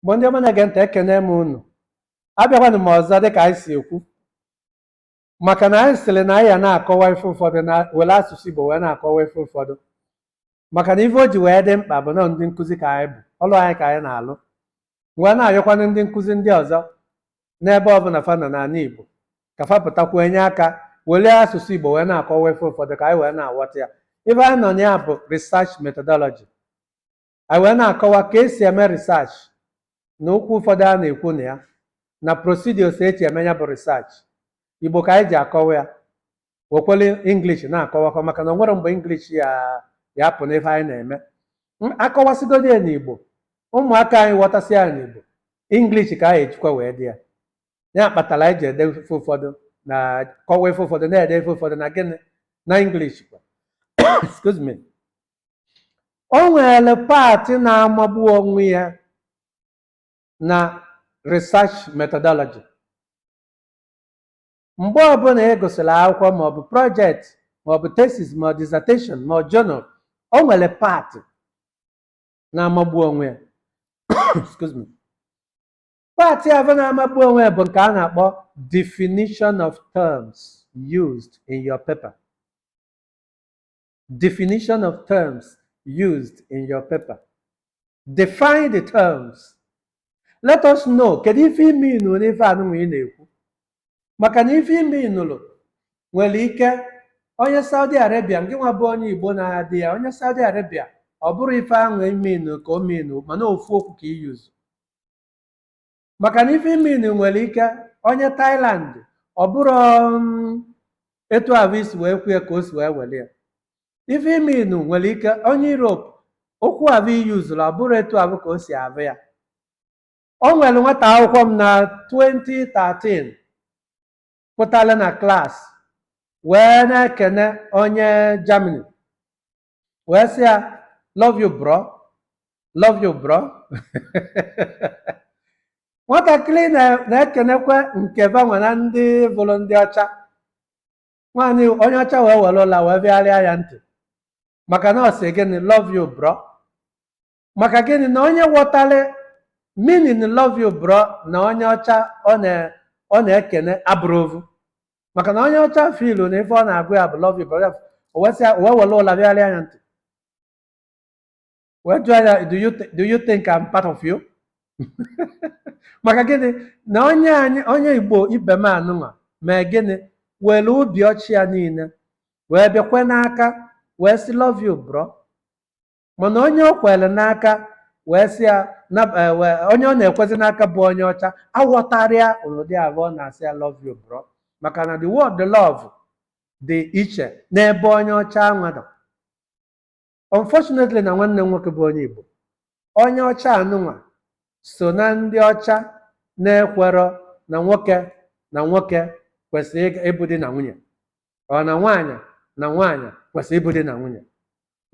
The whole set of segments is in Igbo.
Igbo ndị ọma na-ege ntị ekene m unu abịakwanụ m ọzọ dịka anyị si ekwu maka na anyị sịrị na anyị ya na-akọwa ife ụfọdụ na were asụsụ Igbo wee na-akọwa ife ụfọdụ maka na ife o ji wee dị mkpa bụ na ndị nkụzi ka anyị bụ ọlụ anyị ka anyị na-alụ wee na-ayọkwanụ ndị nkụzi ndị ọzọ n'ebe ọbụla fa nọ n'ala Igbo ka fa pụtakwuo enye aka were asụsụ Igbo wee na-akọwa ife ụfọdụ ka anyị wee na-aghọta ya ife anyị nọ na ya bụ research methodology anyị wee na-akọwa ka esi eme research na okwu ụfọdụ a na-ekwu na ya na procedures eji eme ya bụ research igbo ka anyị ji akọwa ya wekwere english na-akọwakọ maka na o nwerọ mgbe english ya ya apụ n'ife anyị na-eme M- akọwasịgodi ya n'igbo ụmụaka anyị ghọtasị ya n'igbo english ka anyị ejikwa wee dee ya ya kpatara anyị ji ede ife ụfọdụ na-akọwa ife ụfọdụ na-ede ife ụfọdụ na gịnị na english kwa excuse me o nwere paatị na-amagbu onwe ya na research methodology mgbe ọbụla ị gụsịrị akwụkwọ maọbụ project maọbụ thesis ma dissertation ma journal o nwere paatị na-amagbu onwe ya excuse me paatị ahụ na-amagbu onwe ya bụ nke a na-akpọ definition of terms used in your paper definition of terms used in your paper. Define the terms. Let us know kedu ife i mean n'ife anụnwa ị na-ekwu maka na ife i meanụrụ nwere ike onye Saudi Arabia ngị nwa bụ onye Igbo na-ede ya onye Saudi Arabia ọ bụrọ ife ahụ i mean ka o mean mana ofu okwu ka i use maka na ife i mean nwere ike onye Thailand ọ bụrọ um, etu ahụ i si wee kwu ya ka o si wee were ya ife i mean nwere ike onye Europe okwu ahụ i yuzuru ọ bụrọ etu ahụ ka o si ahụ ya o nwere nwata akwụkwọ m na 2013 pụtara na klaasị wee na-ekene onye Germany wee sị ya love you bro love you bro nwatakịrị na- na-ekenekwa nke fanwa na ndị bụrọ ndị ọcha nwaanyị onye ọcha wee were ụla wee fịarịa ya ntị maka na ọ sị gịnị love you bro maka gịnị na onye ghọtara meaning love you bro na onye ọcha ọ na ọ na-ekene abụrọ ovu maka na onye ọcha feel na ife ọ na-agwa ya bụ love you bro o wesịa o wee were ụla pịagharịa ya ntị wee jụọ ya do you, thi- do you think I'm part of you maka gịnị na onye anyị onye igbo ibe m anụnwa mee gịnị were obi ọcha ya niile wee bịa kwee n'aka wee sị love you bro mana onye o kwere n'aka wee sị ya na- eh, wee- onye ọ na-ekwezi n'aka bụ onye ọcha aghọtarọ ya ụdị ahụ ọ na-asị ya love you bro maka na the word love dị iche n'ebe onye ọcha anwa nọ unfortunately na nwanne m nwoke bụ onye Igbo onye ọcha anụnwa so na ndị ọcha na-ekwerọ na nwoke na nwoke kwesịrị ịga- ịbụ di na nwunye or na nwaanyị na nwaanyị kwesịrị ịbụ di na nwunye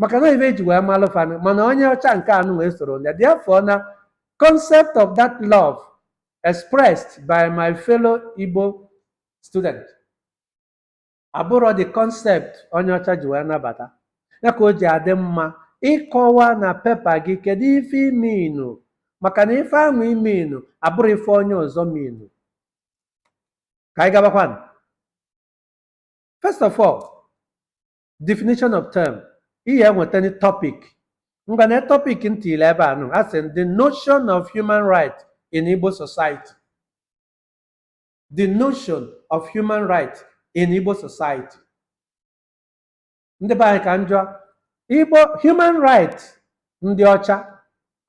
maka na ife e ji wee malụ fa nụ mana onye ọcha nke anụnwa esorọ ya therefore na concept of that love expressed by my fellow Igbo student abụrọ the concept onye ọcha ji wee nabata ya ka o ji adị mma ịkọwa na pepa gị kedu ife i mean maka na ife ahụ i mean abụrọ ife onye ọzọ mean ka anyị gabakwanụ First of all, definition of term. Ihe enweta ni topic. Ngwa na topic m tiili ebe anụ, a sị the notion of human right in Igbo society. The notion of human right in Igbo society. ndị be anyị ka m jụọ igbo human right ndị ọcha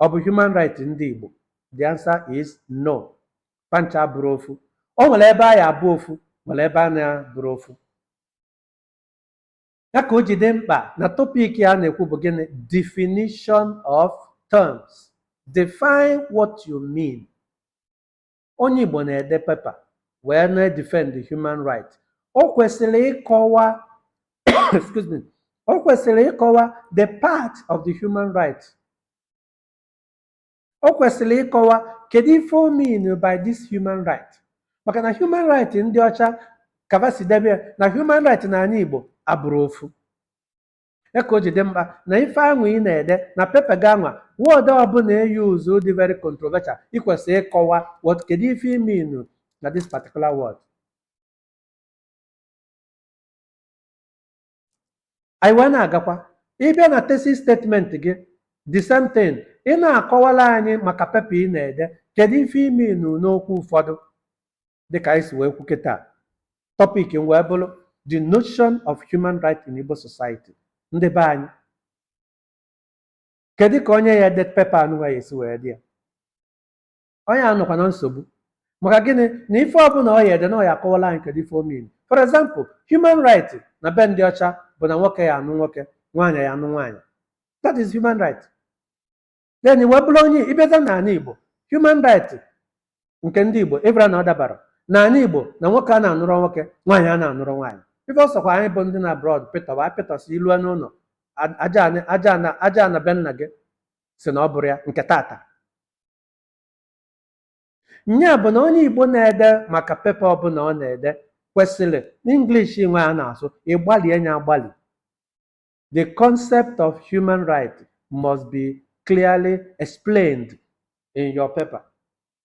ọ bụ human right ndị igbo the answer is no fa ncha abụrọ ofu o nwere ebe anyị abụ ofu nwere ebe a na-abụrọ ofu ya ka o ji dị mkpa na topic a na-ekwu bụ gịnị definition of terms define what you mean onye Igbo na-ede pepa wee na-edefend the human right o kwesịrị ịkọwa excuse me o kwesịrị ịkọwa the part of the human right o kwesịrị ịkọwa kedu ife o mean by this human right maka na human right ndị ọcha ka fa si edebe ya na human right n'anị Igbo abụrọ ofu Ya ka o ji dị mkpa na ife anwa ị na-ede na pepa gị anwa, word ọbụla e use dị very controversial, i kwesịrị ịkọwa what kedu ife i mean na this particular word. Anyị wee na-agakwa, ị bịa na thesis statement gị, the same thing, ị na-akọwala anyị maka pepa ị na-ede, kedu ife i mean n'okwu ụfọdụ. dịka anyị si wee kwu kịta topic m wee bụrụ the notion of human right in Igbo society ndị be anyị kedu ka onye ya ede pepa anụwa ya esi wee dị ya onye a nọkwa na nsogbu maka gịnị na ife ọbụla ọ ya ede na ọ ya akọwala anyị kedu ife o mean for example human right na be ndị ọcha bụ na nwoke ya anụ nwoke nwaanyị ya anụ nwaanyị that is human right then i wee bụrụ onye ị bịaza n'ala igbo human right nke ndị igbo ị mara na ọ dabarọ n'ala igbo na nwoke a na-anụrụ nwoke nwaanyị a na-anụrụ nwaanyị ife ọ sọkwa anyị bụ ndị nọ abroad pịtọwa apịtọsị ilu n'ụlọ a- aja anị- aja ana aja ana be nna gị si na ọ bụrụ ya nke tata nya bụ na onye igbo na-ede maka pepa ọbụla ọ na-ede kwesịrị n'English nwe a na-asụ ịgbalie nya agbalị the concept of human right must be clearly explained in your paper.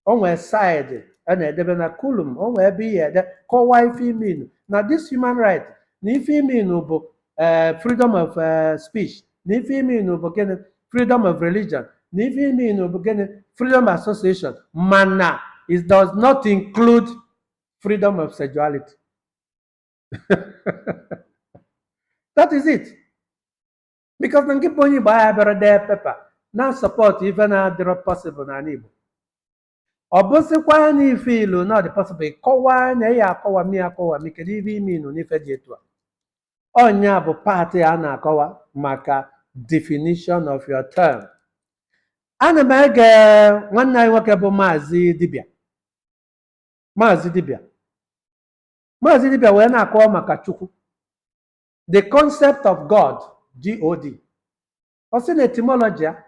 O nwee side a na-edebe na column, o nwee ebe ị ga-ede kọwaa ife i mean na this human right na ife i mean bụ eh, freedom of eh, speech na ife i mean bụ gịnị freedom of religion na ife i mean bụ gịnị freedom of association mana it does not include freedom of sexuality. that is it because na ngị bụ onye igbo aya abịarọ dee pepa na-asupport ife na-adịrọ possible n'ala igbo ọ bụsịkwa na ife i lo na ọ dị possible ị kọwaa anyị ya akọwami akọwami kedu ife i mean n'ife dị etu a ọ nya bụ part a na-akọwa maka definition of your term ana m ege nwanne anyị nwoke bụ maazị dibịa maazị dibịa Maazị Dibia wee na-akọwa maka Chukwu the concept of God God ọ sị na etymology ya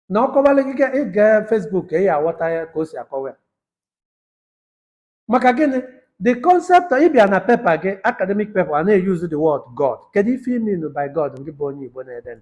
na ọ kọwala gị ga- ị gaa Facebook ka ị ya aghọta ya ka o si akọwa ya maka gịnị the concept of- ị bịa na pepa gị academic paper a na-use the word God kedu ife i mean by God ngị bụ onye Igbo na-ede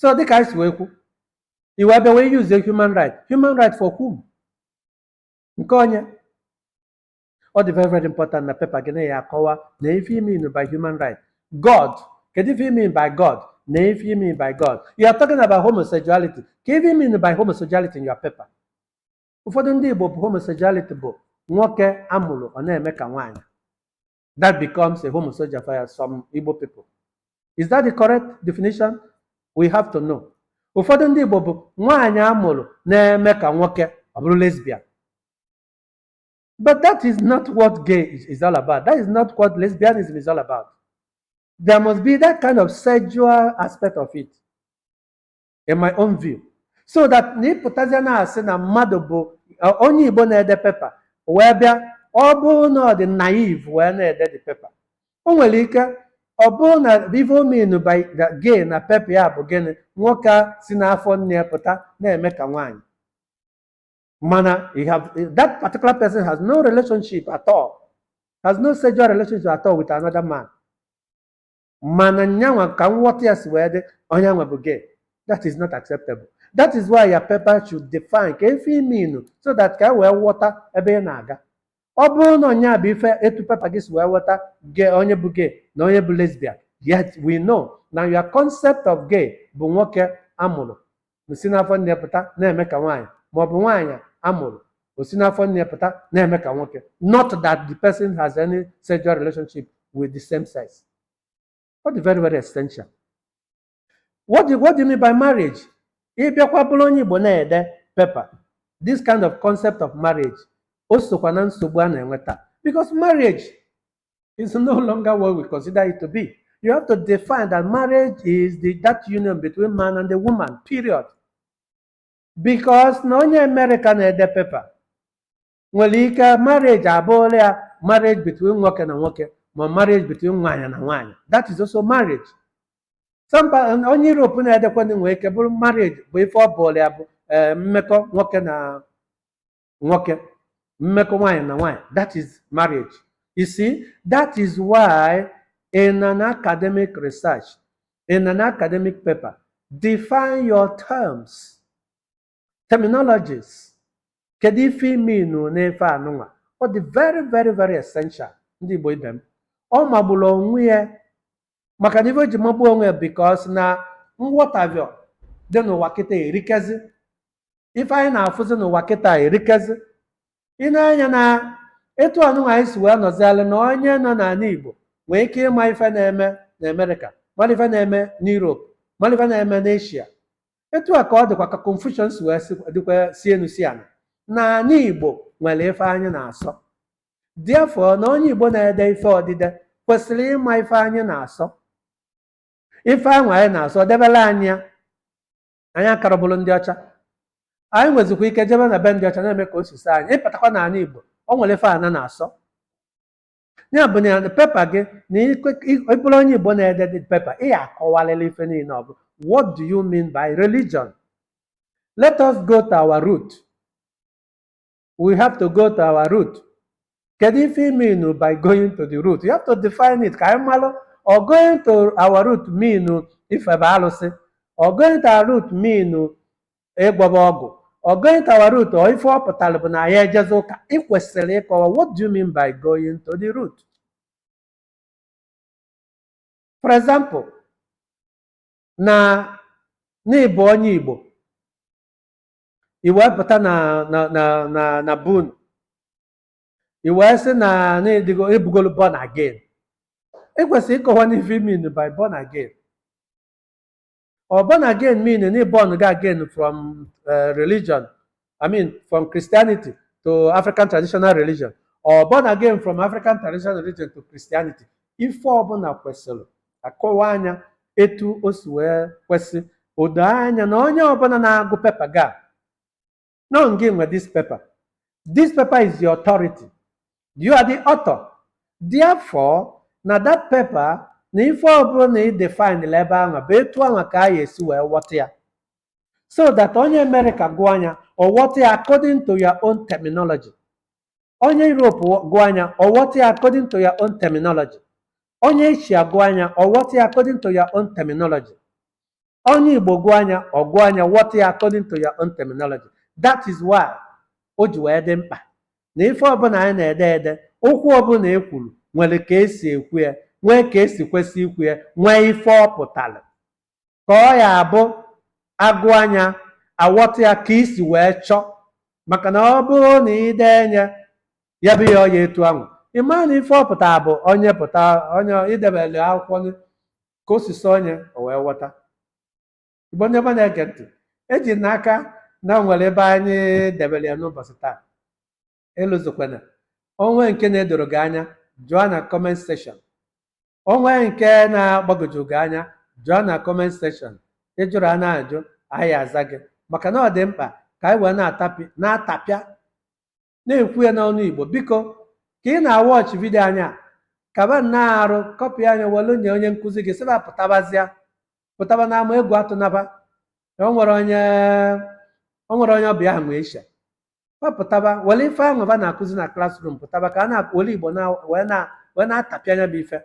so dịka anyị si wee kwu i wee bịa wee use human right human right for whom nke onye ọ dị very very important na pepa gị na ya akọwa na ife i mean by human right god kedu ife i mean by god na ife i mean by god you are talking about homosexuality ka ife i mean by homosexuality in your paper ụfọdụ ndị igbo bụ homosexuality bụ nwoke a mụrụ ọ na-eme ka nwaanyị that becomes a homosexual for some Igbo people. Is that the correct definition? We have to know. Ụfọdụ ndị Igbo bụ nwaanyị a mụrụ na-eme ka nwoke ọ bụrụ lesbian. But that is not what gay is, is all about. That is not what lesbianism is all about. There must be that kind of sexual aspect of it. in my own view so that na ịpụtazịa na-asị na mmadụ bụ ọ- onye igbo na-ede pepa wee bịa ọ bụrụ na ọ dị naive wee na-ede the pepa o nwere ike ọ bụrụ na ife o mean by gay na pepa ya bụ gịnị nwoke a si n'afọ nne ya pụta na-eme ka nwaanyị mana that particular person has no relationship at all has no sexual relationship at all with another man mana nyanwa ka nghọta ya si wee dị onye nwa bụ gay that is not acceptable that is why your paper should define ka ife i mean so that ka e wee ghọta ebe ị na-aga ọ bụrụ na ọ nya bụ ife etu pepa gị si wee ghọta gay onye bụ gay na onye bụ lesbian yet we know na your concept of gay bụ nwoke a mụrụ o si n'afọ nne ya pụta na-eme ka nwaanyị ma ọ bụ nwaanyị a mụrụ o si n'afọ nne ya pụta na-eme ka nwoke not that the person has any sexual relationship with the same sex ọ dị very very essential what do, what do you mean by marriage ị bịakwa bụrụ onye igbo na-ede pepa this kind of concept of marriage o sokwa na nsogbu a na-enwe taa because marriage is no longer what we consider it to be. You have to define that marriage is the, that union between man and the woman, period. Because na onye America na-ede pepa nwere ike marriage abụọla ya marriage between nwoke na nwoke ma marriage between nwaanyị na nwaanyị. That is also marriage. Onye Europe na-edekwanụ nwere ike bụrụ marriage bụ ife ọ bụọla ya bụ eh, mmekọ nwoke na nwoke mmekọ nwaanyị na nwaanyị that is marriage you see that is why in an academic research in an academic paper define your terms terminologies kedu ife i mean n'ife anụnwa ọ dị very very very essential ndị igbo ibe m ọ magburu onwe ya maka na ife o ji magbuo onwe ya because na nghọtavie dị n'ụwa kịta erikezi ife anyị na-afụzi n'ụwa kịta erikezi ị na-anya na etu anụnwa anyị si wee nọzialụ na onye nọ n'ana igbo nwee ike ịma ife na-eme na america mara ife na-eme n'europe mara ife na-eme n'asia etu a ka ọ dịkwa ka confusion si wee si- dịkwa si enu si ana n'ana igbo nwere ife anyị na-asọ Therefore, na onye Igbo na-ede ife odide kwesịrị ịma ife anyị na-asọ. Ife ahụ anyị na-asọ debere anyị ya. Anyị akarọ bụrụ ndị ọcha. Anyị nwezikwa ike jebe na be ndị ọcha na-eme ka o si sọ anyị. Ị pụtakwa n'ana Igbo, o nwere ife ana na-asọ. Ya bụ na pepa gị na ị bụrụ onye Igbo na-ede the pepa, ị ya-akọwarịrị ife niile ọ bụ. What do you mean by religion? Let us go to our root. we have to go to our root kedu ife ị mean by going to the root you have to define it ka anyị malụ or going to our root mean ifebe alụsị or going to our root mean ịgwọba ọgwụ or going to our root or ife ọ pụtara bụ na anyị ejezi ụka ị kwesịrị ịkọwa what do you mean by going to the root for example na ị bụ onye igbo i wee pụta na na na na na be unu i wee sị na na ị bụgolu born again ị kwesịrị ịkọwa n'ife i mean by born again or born again mean na ị born gị again from eh, religion i mean from christianity to african traditional religion or born again from african traditional religion to christianity ife ọbụla kwesịrị a kọwaa nya etu o si wee kwesị o doo anya na onye ọbụla na-agụ pepa gị a na ọ ngị nwe this paper this paper is your authority you are the author therefore na that paper na ife ọbụla na ị define ebe anwa bụ etu anwa ka a ga-esi wee ghọta ya so that onye Amerịka gụọ nya ọ ghọta ya according to your own terminology onye Europe gụọ nya ọ ghọta ya according to your own terminology onye Asia gụọ nya ọ ghọta ya according to your own terminology onye Igbo gụọ nya ọ gụọ nya ghọta ya according to your own terminology that is why o ji wee dị mkpa na ife ọbụla anyị na-ede ede okwu ọbụla e kwuru nwere ka e si ekwu ya nwee ka e si kwesị ikwu ya nwee ife ọ pụtara ka ọ ya-abụ a gụa nya a wọta ya ka i si wee chọọ maka na ọ bụrụ na i denye ya bụ ya ọya etu ahụ ị mara na ife ọ pụtara bụ onye pụta onye i debere akwụkwọ nụ ka o si sọ nya o wee ghọta igbo ndị ọma na-ege ntị eji m n'aka na o nwere ebe anyị debere ya n'ụbọchị taa elozokwana o nwee nke na-edoro gị anya jụọ na kọment sekshọn O nwee nke na-agbagwoju gị anya, jụọ na comment section. Ị jụrụ a na-ajụ, anyị aza gị. Maka na ọ dị mkpa ka anyị wee na-atapi na-atapịa na-ekwu ya n'ọnụ Igbo. Biko, ka ị na-awọchị vidio anyị a, kaba nnọọ arụ, kọpịa nya welu nye onye nkụzi gị, sị ba pụtabazịa, pụtaba n'ama egwu atụna ba. O nwere onye o nwere onye ọbịa ahụ nwee isha. fa pụtaba were ife ahụ fa na-akụzi na klasrum pụtaba ka a na-were igbo na wee na wee na-atapịa nya bụ ife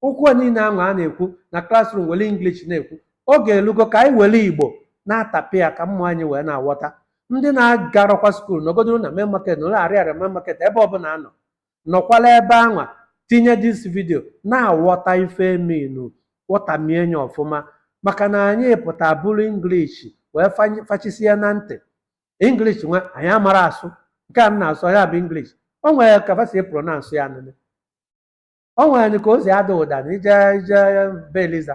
okwu niile ahụ a na-ekwu na klasrum were inglish na-ekwu oge elugo ka anyị were igbo na-atapịa ya ka ụmụ anyị wee na-aghọta ndị na-agarọkwa skuul nọgodoro na main market nọlụ arịarịa main market ebe ọbụla a nọ nọkwala ebe anwa tinye dis vidio na-aghọta ife e mean ghọtamie nya ọfụma maka na anyị pụta buru inglish wee fany- fachisie na ntị English nwa anyị amara asụ nke a m na-asụ ya bụ English o nwere ka fa si pronounce ya nụnụ o nwere ka o si ada ụda na ị jee ị jee be Eliza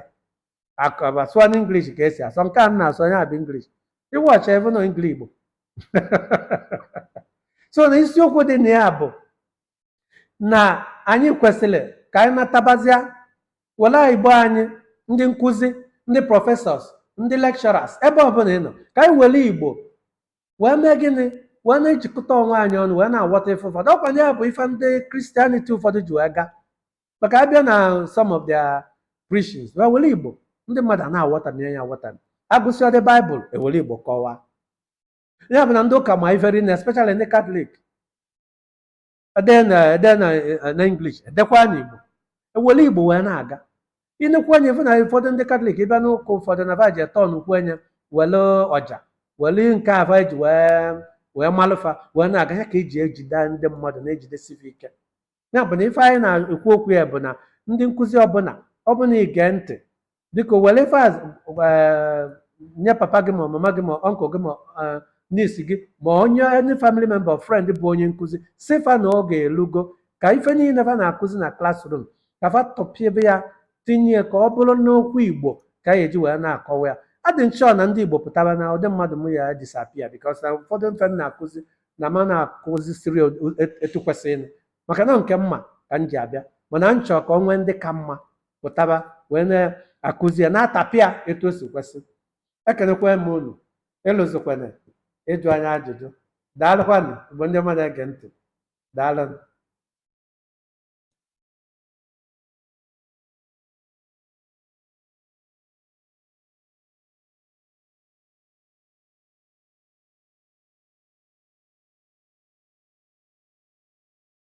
akaba sụọ na English ka e si asụ nke a m na-asụ ya bụ English ịwọcha ebe nọ Engligbo so na isiokwu dị na ya bụ na anyị kwesịrị ka anyị natabazịa were igbo anyị ndị nkụzi ndị professors ndị lecturers ebe ọbụla ị nọ ka anyị were igbo wee mee gịnị wee na-ejikọta onwe anyị ọnụ wee na-aghọta ife ụfọdụ ọkwa ya bụ ife ndị Christianity ụfọdụ ji wee gaa maka a bịa na some of their preachings wee were igbo ndị mmadụ na-aghọtami ya aghọtami a gụsịọdị baịbụl e were igbo kọwaa ya bụ na ndị ụka ma iferi na especially ndị katọlik e dee na e dee na eh, na English e dekwaa na Igbo e were Igbo wee na-aga ị nekwuo anya ị fụ na ụfọdụ ndị katọlik ị bịa n'ụka ụfọdụ na va ji etọ n'ukwu anya were ọja were nke a va ji wee wee malụ fa wee na-aga ya ka e ji ejide ndị mmadụ na-ejidesi fa ike ya bụ na ife anyị na-ekwu okwu ya bụ na ndị nkụzi ọbụla ọbụla ige ntị biko were ife a eh, nye papa gị ma mama gị ma uncle gị ma eh, niece gị ma onye any family member or friend bụ onye nkụzi sị fa na oge elugo ka ife niile fa na-akụzi na classroom ka fa tapịabe ya tinye ya ka ọ bụrụ n'okwu igbo ka anyị eji wee na-akọwa ya adị m achọ na ndị igbo pụtara na ụdị mmadụ m ya disappear because na ụfọdụ ife m na-akụzi na ma na-akụzi siri etu kwesịrị maka na nke m ma ka m ji abịa mana m chọrọ ka o nwee ndị ka mma pụtaba wee na-akụzi ya na-atapịa etu o si kwesị ekenekwa m unu ịlụzikwana ịjụ anyị ajụjụ daalụkwanụ bụ ndị mmadụ ege ntị daalụnụ